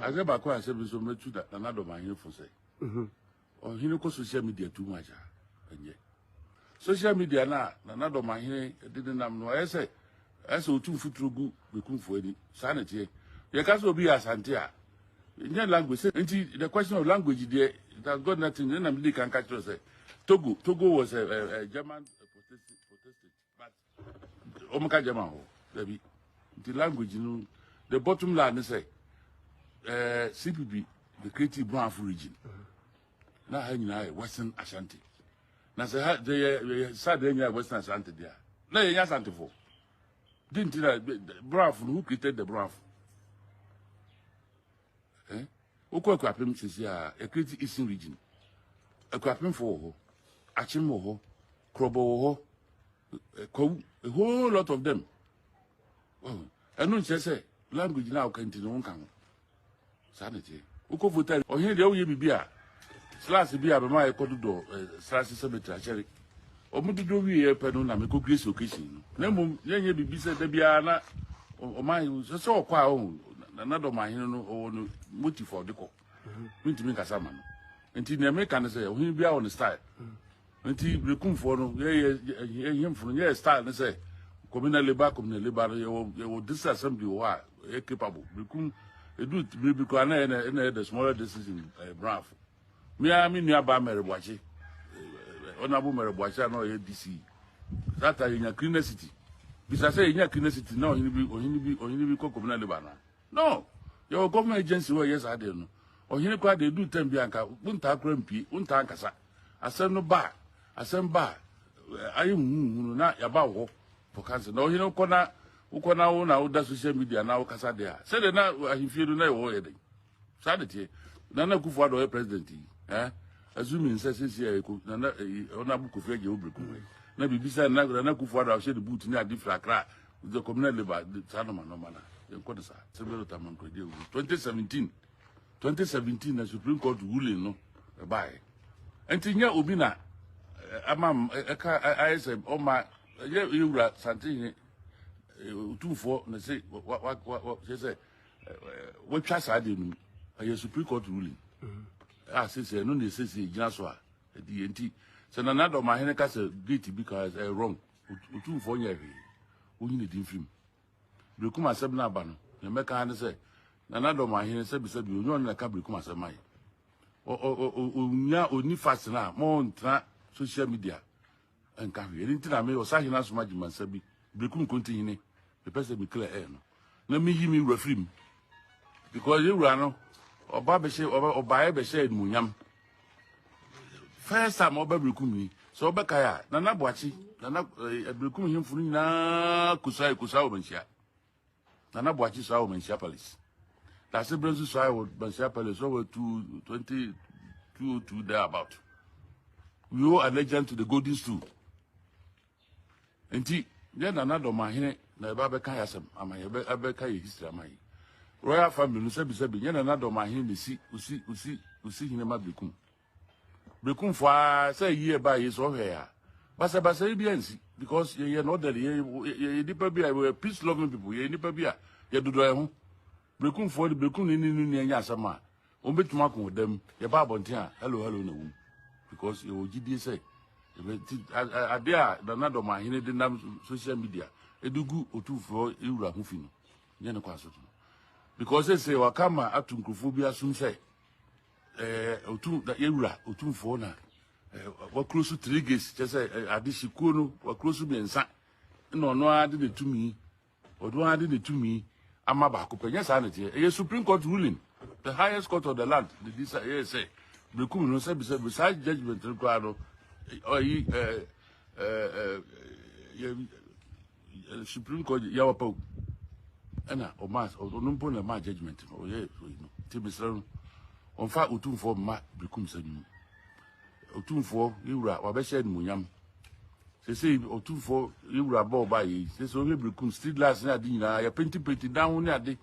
Adze baako a sɛ me nso mɛtu da Nana Dɔm ahemfo sɛ ɔhene kɔ social media too much a ɛnyɛ social media no a Nana Dɔm ahene de ne nam no ɛyɛ sɛ ɛyɛ sɛ ɔtu mfuturo gu Bekumfo ani saa na ɛteɛ yɛka sɛ obi yɛ asante a ɛnyɛ language sɛ nti the question of language deɛ it has got nothing ɛna mede ka nka kyerɛ sɛ Togo Togo was a, a, a German protestant but wɔn ka german hɔ dabi nti language no the bottom line ne sɛ ɛɛ cpp the creative brafo region na ha nyinaa yɛ western ashanti na sɛ ha de yɛ yɛ sad yɛ nyinaa yɛ western ashanti deɛ na yɛ nyɛ asantefo di nti na brafo no who created the brafo. eh wokɔ akurapem sisi a ekreti eastern region akurapemfo wɔ hɔ akyem wɔ hɔ krɔbɔ wɔ hɔ kwawu a whole lot of them ɛno nkyerɛ sɛ language na woka nti no wonka ho saa ne teɛ wokɔ voter ɔhene deɛ woyɛ biribi a Slas bi a me maa yɛkɔ dodɔ eh, Slas cemetery akyɛre. Wɔn dodɔ wie yɛ pɛ no na mekɔ grace occasion no. Na mmom yɛnyɛ biribi sɛ da biara na ɔman sɛ sɛ ɔkɔ a ɔho na na dɔm ahene no ɔwɔ no motif a ɔde kɔ. Mentumi nkasa ma no. Nti nea meka ne sɛ ɔhene biara wɔ ne style. Nti Brekumfoɔ no, yɛ yɛ yɛ nhemfo no, nyɛ yɛ style ne sɛ kɔmina leba kɔmina leba no, yɛwɔ yɛwɔ district assembly wɔ hɔ a ɛyɛ capable. Brekum edu bere bi koraa na yɛ na yɛ the smaller district in ɛɛ eh, Branfo. Mmea me nua baa Mɛrɛbuakye, ɔnabo eh, eh, Mɛrɛbuakye a na ɔyɛ DC. That time yɛnya Kirina City. Bisa sɛ yɛnya Kirina City na ɔhene bi ɔhene bi ɔhene bi kɔ kɔmina leba na. No, yɛwɔ government agency wɔ yɛ saa deɛ no. Ɔhene koraa deɛ edu tɛm bi anka wontaa koraa mpie, wontaa nkasa. Asɛm no ba a, asɛm ba a, ayɛ huhuhu no na yɛaba wo hɔ for council. Na ɔhene wokɔ na wokɔ na wo na woda social media na wokasa deɛ a, sɛdeɛ na ahemfie no na ɛwɔ hɔ yɛ dɛn? Saa de teɛ. Nana Akufo Addo ɔyɛ president yi. Eh? Azumi nsɛ sisi a ɛkɔ nana ɔna abu kofi agye wo berekum wei. Na biribi sɛ nana nana Akufo Addo ahyɛ ne boot ne ade firi akra the communal labor saa nɔma nɔma na yɛnkɔ no saa. Sɛ bɛrɛ tamankwadi awu 2017 twenty seventeen na supreme court ruling no ɛbaeɛ nti nyɛ obi na ama ɛka ayɛ sɛ ɔma ɛyɛ ewura santehene otumfoɔ na se wa wa wa kyɛ sɛ watwa saa deɛ no ɛyɛ supreme court ruling a sesɛ ɛno na ɛsesɛ gyina so a ɛdi yɛ nti sɛ nana dɔmahene ka sɛ gate bi ka ɛyɛ wrong otumfoɔ nyɛ hwee wonyini di mfim Berekum asɛm no aba no, nea mɛka ara ne sɛ, Nana Dɔm Ahene, sɛbisɛbi, ɔnyɛ ɔno na ɛka Berekum asɛm ma yɛ. Ɔ, ɔ, ɔ, ɔ, ɔnya, ɔni fast no a, ma ɔntena social media nka hwee. Ɛno nti na me, Ɔsahene Asom Agyemansa bi, Berekum Nkontihene, mepɛ sɛ me clear air no, na meyi me wura firi mu. Because yɛn wura no, ɔba bɛhyɛ, ɔba, ɔbaeɛ bɛhyɛ animuonyam. first time ɔba birikum yi sɛ ɔbɛkae a nana boakye nana birikum eh, hemfo no nyinaa kusae kusaa wɔ manhyia nana boakye saa wɔ manhyia palace dase berɛ nso saa wɔ manhyia palace ɔwɔ 2002 there about we owe allegiance to the golden stool nti yɛ nana dɔmahene na yɛba bɛka yɛ asɛm ama yɛ bɛka yɛ history ama yɛ royal family no sɛbisɛbi nyɛ nana dɔmahene na si osi osi osi hene ma bekum bekum fo a sɛ yie ba yɛ sɛ ɔhwɛ ya basabasa yi bi ansi because yɛyɛ no ɔdɛde yɛyɛ nipa bi a yɛ peace loving people yɛyɛ nipa bi a yɛdodɔ yɛ ho bekum fo de bekum ne ne no nya asɛm a Wɔn bɛtumi ako wɔ dam. Yɛba abɔnten a, hello hello na wom. Because yɛwɔ gyidie sɛ adeɛ a Nana Dɔmahene de nam social media de gu Otumfoɔ Ewura ho fi no, nyɛ ne kwan so no. Because sɛ waka ma ato nkurɔfoɔ bi asom sɛ eh, otum Ewura Otumfoɔ na eh, wakuro so three gates kyɛ sɛ eh, adehye kuo no wakuro so mmiɛnsa na ɔno ara de ne tumi Ɔno ara de ne tumi ama baako pɛ. Nyɛ saa na ɛteɛ. Ɛyɛ Supreme Court ruling, the highest court of the land, na ɛdi sɛ ɛyɛ sɛ mekum no sɛ bisɛ bi saa judgment no koraa no ɔyi ɛɛ ɛɛ yɛ Supreme Court yɛ wapa o ɛna ɔma ɔno mpo na ɛma judgment no ɔyɛ ɔyi no ti mesrɛ no ɔnfa otumfoɔ mma mekum sɛ no mu. Otumfoɔ, yɛn wura, wabɛhyɛ animuonyam. Sese Otumfoɔ, yɛn wura bɔɔ baa yɛ yi. Sese ohwɛ birikum, street lights ne ade nyinaa, yɛpentipenti dan ho ne ade.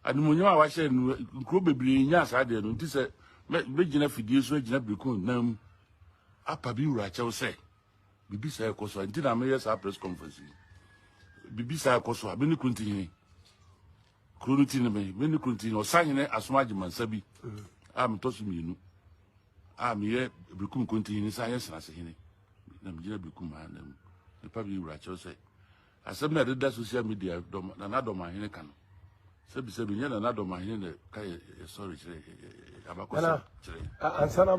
Animuonyam a wahyɛ no, nkuro bebree nyaa saa deɛ no. Nti sɛ mɛgyina fidie so agyina birikum nyinaa mu apa bi wura kyɛw sɛ biribi saa ɛkɔ so a, nti na meyɛ saa press conference yi. Biribi saa ɛkɔ so a, me ne Kunti hene. Kuro no ti ne me, me ne kuro no ti ne Ɔsahene Asom Agyemansa bi a metɔ so mmienu a meyɛ Bekum Kontihene san yɛ Senasehene na megyina Bekum ha na nipa bi wura kyerɛ sɛ asɛm na ɛdeda social media dɔm na nadɔm ahene ka no sɛbisɛbi nyɛ na nadɔm ahene na ka yɛ sɔre kyerɛ abakɔsɛ kyerɛ